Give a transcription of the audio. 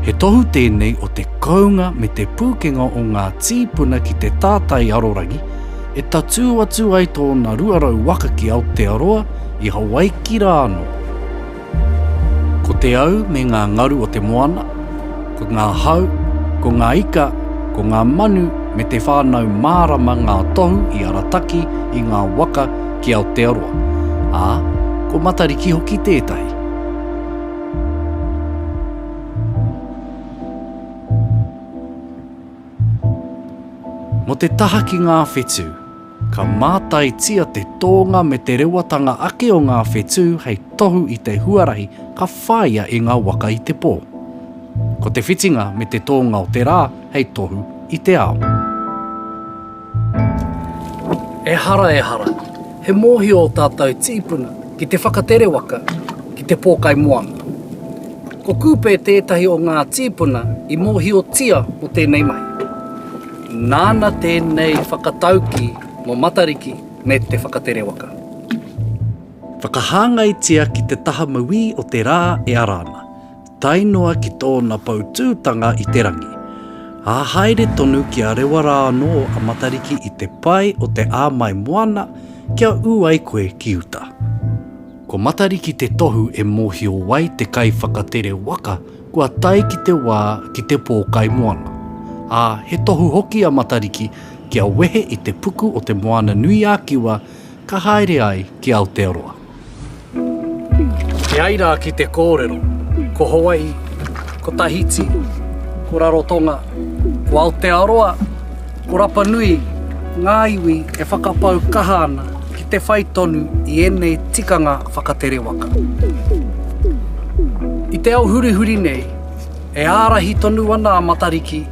He tohu tēnei o te kounga me te pūkenga o ngā tīpuna ki te tātai arorangi, e tatū atu ai tōna 200 waka ki Aotearoa, i Hawaiki rā anō. Ko te au me ngā ngaru o te moana, ko ngā hau, ko ngā ika, ko ngā manu me te whānau mārama ngā tohu i arataki i ngā waka ki Aotearoa, ā, ko Matariki hoki tētahi. Mo te taha ki ngā whetū, ka mātaitia te tōnga me te rewatanga ake o ngā whetū hei tohu i te huarahi ka whāia e ngā waka i te pō. Ko te whitinga me te tōnga o te rā hei tohu i te ao. Ehara ehara, he mōhio ō tātou tīpuna ki te whakatere waka ki te pōkai moana. Ko Kupe tētahi o ngā tīpuna i mōhiotia mō tēnei mahi. Nāna tēnei whakataukī mō Matariki me te whakatere waka. Whakahāngaitia ki te taha mauī o te rā e ara ana. tae noa ki tōna poutūtanga i te rangi, ā, haere tonu ki a rewa rā anō a Matariki i te pae o te āmai moana kia ū ai koe ki uta. Ko Matariki te tohu e mōhio ai te kaiwhakatere waka kua tae ki te wā ki te pōkai moana, ā, he tohu hoki a Matariki kia wehe i te puku o Te Moana-nui-ā-Kiwa ka haere ai ki Aotearoa. E ai rā ki te kōrero, ko Hawai'i, ko Tahiti, ko Rarotonga, ko Aotearoa, ko Rapanui ngā iwi e whakapau kaha ana ki te whai tonu i ēnei tikanga whakatere waka. I te ao hurihuri nei, e ārahi tonu ana a Matariki